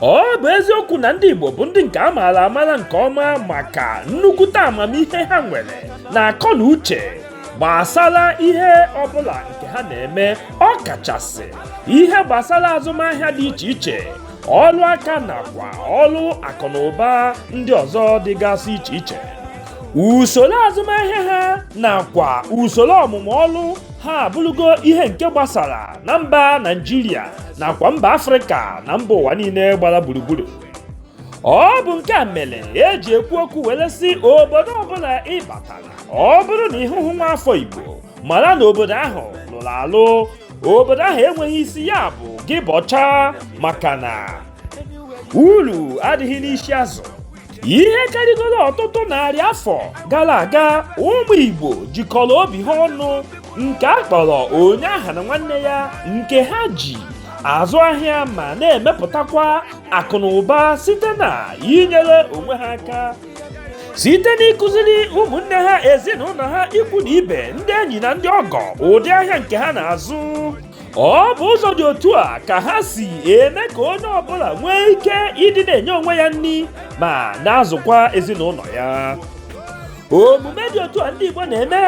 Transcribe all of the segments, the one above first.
ọ bụ eziokwu na ndị Igbo bụ ndị nke a maara amara nke ọma maka nnukwute amamihe ha nwere na akọ na uche gbasara ihe ọbụla nke ha na-eme ọ kachasị ihe gbasara azụmahịa dị iche iche ọrụ aka nakwa ọrụ akụ na ụba ndị ọzọ dịgasị iche iche usoro azụmahịa ha nakwa usoro ọmụmụ ọrụ ha abụrụgo ihe nke gbasara na mba Naịjirịa nakwa mba afrịka na mba ụwa niile gbara gburugburu ọ bụ nke a mere eji ekwu okwu were sị obodo ọbụla ị batara ọ bụrụ na ị hụhụ nwa afọ igbo mara na obodo ahụ lụrụ alụ obodo ahụ enweghị isi ya bụ gị bọchaa maka na uru adịghị n'isi azụ ihe karịgoro ọtụtụ narị afọ gara aga ụmụ igbo jikọrọ obi ha ọnụ nke a kpọrọ onye aghana nwanne ya nke ha ji azụ ahịa ma na-emepụtakwa akụ na ụba site na inyere onwe ha aka site n'ịkụziri ụmụnne ha ezinụlọ ha ikwu na ibe ndị enyi na ndị ọgọ ụdị ahịa nke ha na-azụ ọ bụ ụzọ dị otu a ka ha si eme ka onye ọbụla nwee ike ịdị na-enye onwe ya nri ma na-azụkwa ezinụlọ ya omume dị otu a ndị Igbo na-eme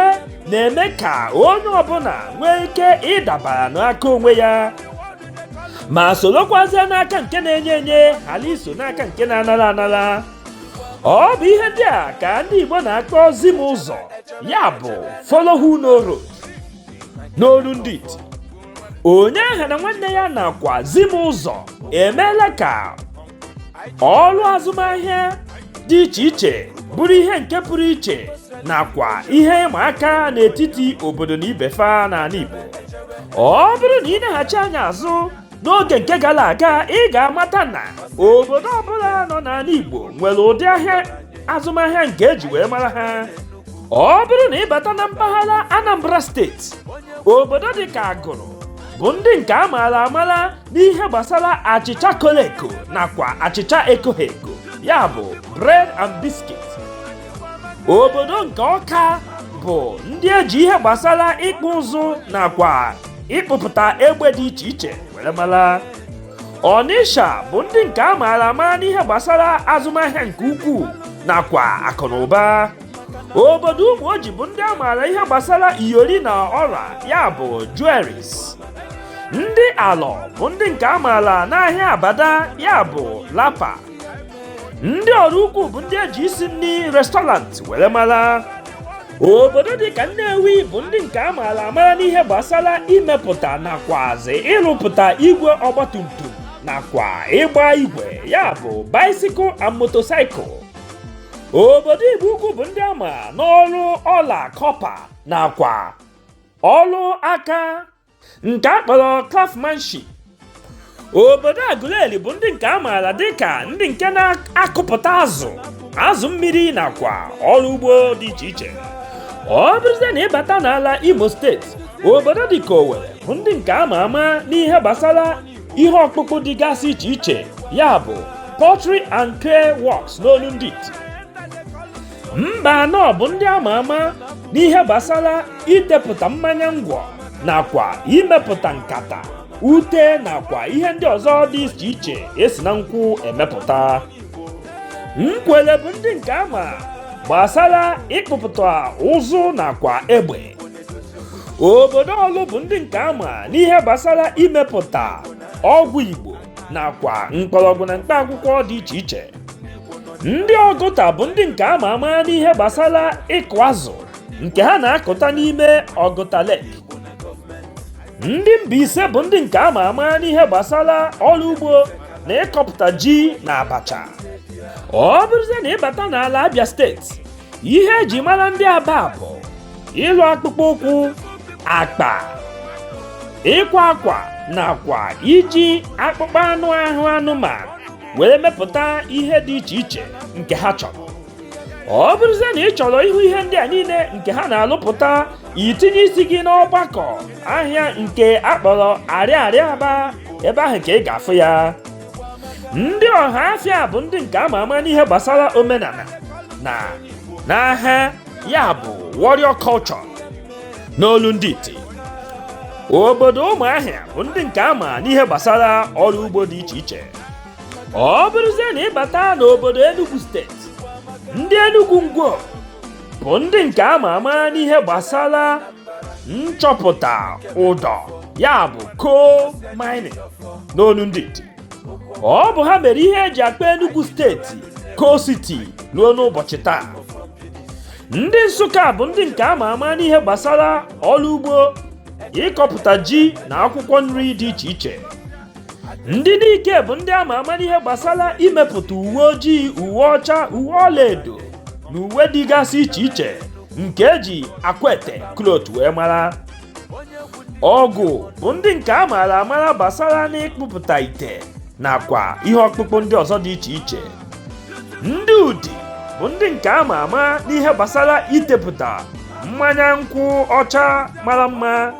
na-eme ka onye ọbụla nwee ike ịdabara n'aka onwe ya ma sorokwazie n'aka nke na-enye enye ghara iso n'aka nke na-anara anara ọ bụ ihe ndị a ka ndị Igbo na-akpọ zi m ụzọ ya bụ follow who know road n'olu ndị iti onye aghana nwanne ya nakwa zi m ụzọ emeela ka ọrụ azụmahịa dị iche iche bụrụ ihe nke pụrụ iche nakwa ihe ịma aka n'etiti obodo na ibe fa n'ala Igbo ọ bụrụ na ị neghachi anya azụ n'oge nke gara aga ị ga-amata na obodo ọbụla nọ n'ala Igbo nwere ụdị ahịa azụmahịa nke eji wee mara ha ọ bụrụ na ị bata na mpaghara Anambra steeti obodo dị ka Agụlụ bụ ndị nke a maara amara n'ihe gbasara achịcha kolo eko nakwa achịcha ekoghị eko ya bụ bread and biscuit obodo nke Ọka bụ ndị eji ihe gbasara ịkpụ ụzụ nakwa ịkpụpụta egbe dị iche iche were mara Ọnịsha bụ ndị nke a maara ama n'ihe gbasara azụmahịa nke ukwuu nakwa akụ na ụba obodo Ụmụoji bụ ndị a maara ihe gbasara iyori na ọla ya bụ jewelries ndị Alọ bụ ndị nke a maara n'ahịa abada ya bụ lapa ndị Ọraukwu bụ ndị eji isi nri restaurant were mara obodo dị ka Nnewi bụ ndị nke a maara amara n'ihe gbasara imepụta nakwazi ịrụpụta igwe ọgbatumtum nakwa ịgba igwe ya bụ bicycle and motorcycle obodo Igbo Ukwu bụ ndị a ma n'ọrụ ọla kọpa nakwa ọrụ aka nke a kpọrọ craftsmanship obodo Aguleri bụ ndị nke a maara dịka ndị nke na-akụpụta azụ azụ mmiri nakwa ọrụ ugbo dị iche iche ọ bụrụzie na ị bata n'ala Imo steeti obodo dịka Owerri bụ ndị nke a ma ama n'ihe gbasara ihe ọkpụkpụ dịgasị iche iche ya bụ pottery and clay works n'olu ndị iti Mbanọ bụ ndị a ma ama n'ihe gbasara itepụta mmanya ngwọ nakwa imepụta nkata ute nakwa ihe ndị ọzọ dị iche iche e si na nkwụ emepụta Nkwele bụ ndị nke a ma gbasara ịkpụpụta ụzụ nakwa egbe obodo Ọlụ bụ ndị nke a ma n'ihe gbasara imepụta ọgwụ igbo nakwa mkpọrọgwụ na mkpa akwụkwọ dị iche iche ndị Ọgụta bụ ndị nke a ma ama n'ihe gbasara ịkụ azụ nke ha na-akụta n'ime Ọgụta Lake ndị Mbaise bụ ndị nke a ma ama n'ihe gbasara ọrụ ugbo na ịkọpụta ji na abacha ọ bụrụzie na ị bata n'ala Abịa steeti ihe e ji mara ndị Aba bụ ịlụ akpụkpọ ụkwụ akpa ịkwa akwa nakwa iji akpụkpọ anụ ahụ anụmanụ were mepụta ihe dị iche iche nke ha chọrọ ọ bụrụzie na ị chọrọ ịhụ ihe ndị a niile nke ha na-alụpụta i tinye isi gị n'ọgbakọ ahịa nke a kpọrọ Arịarịa Aba ebe ahụ ka ị ga-afụ ya ndị Ọhafịa bụ ndị nke a ma ama n'ihe gbasara omenala na n'agha ya bụ warrior culture n'olu ndị iti obodo Ụmụahịa bụ ndị nke a ma n'ihe gbasara ọrụ ugbo dị iche iche ọ bụrụzie na ị bata n'obodo Enugu steeti ndị Enugu Ngwo bụ ndị nke a ma ama n'ihe gbasara nchọpụta ụdọ ya bụ coal mining n'onu ndị iti ọ bụ ha mere ihe e ji akpọ Enugu steeti Coal City ruo n'ụbọchị taa ndị Nsụka bụ ndị nke a ma ama n'ihe gbasara ọrụ ugbo ịkọpụta ji na akwụkwọ nri dị iche iche ndị nike bụ ndị ama ama n'ihe gbasara imepụta uwe ojii uwe ọcha uwe ọlaedo na uwe dịgasị iche iche nke eji akwete cloth wee mara awgu bụ ndị nke a maara amara gbasara n'ịkpụpụta ite nakwa ihe ọkpụkpụ ndị ọzọ dị iche iche ndị udi bụ ndị nke a ma ama n'ihe gbasara itepụta mmanya nkwụ ọcha mara mma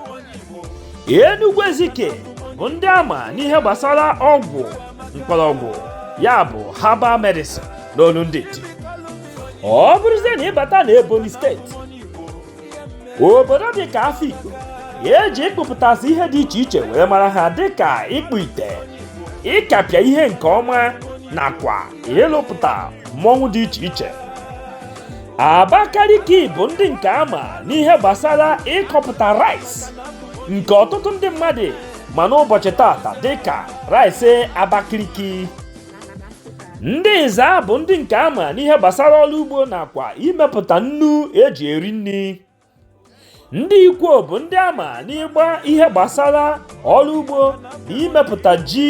Enugu Ezike bụ ndị ama n'ihe gbasara ọgwụ mkpọrọgwụ ya bụ herbal medicine n'olu ndị iti ọ bụrụzie na ị bata na Ebonyi steeti obodo dị ka Afikpo eji ịkpụpụtasị ihe dị iche iche wee mara ha dịka ịkpụ ite ịkapịa ihe nke ọma nakwa ịlụpụta mmọnwụ dị iche iche Abakaliki bụ ndị nke ama n'ihe gbasara ịkọpụta rice nke ọtụtụ ndị mmadụ ma n'ụbọchị tata dịka rice Abakaliki ndị Ezza bụ ndị nke ama n'ihe gbasara ọrụ ugbo nakwa imepụta nnu eji eri nri ndị ikwo bụ ndị ama n'ịgba ihe gbasara ọrụ ugbo na imepụta ji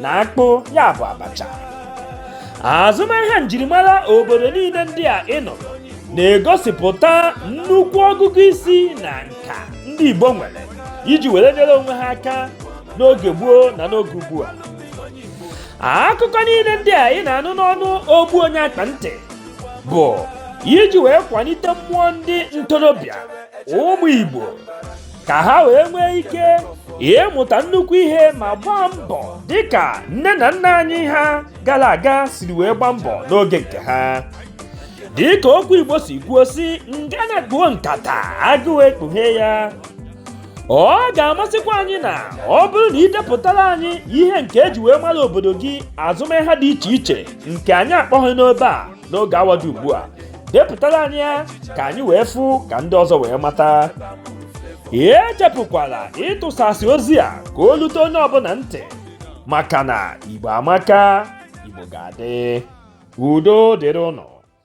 na akpụ ya bụ abacha azụmahịa njirimara obodo niile ndị a ị nụrụ na-egosipụta nnukwu ọgụgụ isi na nka ndị igbo nwere iji were nyere onwe ha aka n'oge gboo na n'oge ugbu a akụkọ niile ndị a ị na-anụ n'ọnụ ogbu onye akpa ntị bụ iji wee kwalite mmụọ ndị ntorobịa ụmụ Igbo ka ha wee nwee ike ịmụta nnukwu ihe ma gbaa mbọ dịka nne na nna anyị ha gara aga siri wee gbaa mbọ n'oge nke ha dịka okwu Igbo si kwuo sị ngana kpuo nkata agụụ ekpughe ya ọ ga-amasịkwa anyị na ọ bụrụ na i depụtara anyị ihe nke eji wee mara obodo gị azụmahịa dị iche iche nke anyị akpọghị n'ebe a n'oge awa dị ugbu a depụtara anyị ya ka anyị wee fụ ka ndị ọzọ wee mata echefukwala ịtụsasị ozi a ka o lute onye ọbụla ntị maka na igbo amaka igbo ga-adị udo dịrị ụnụ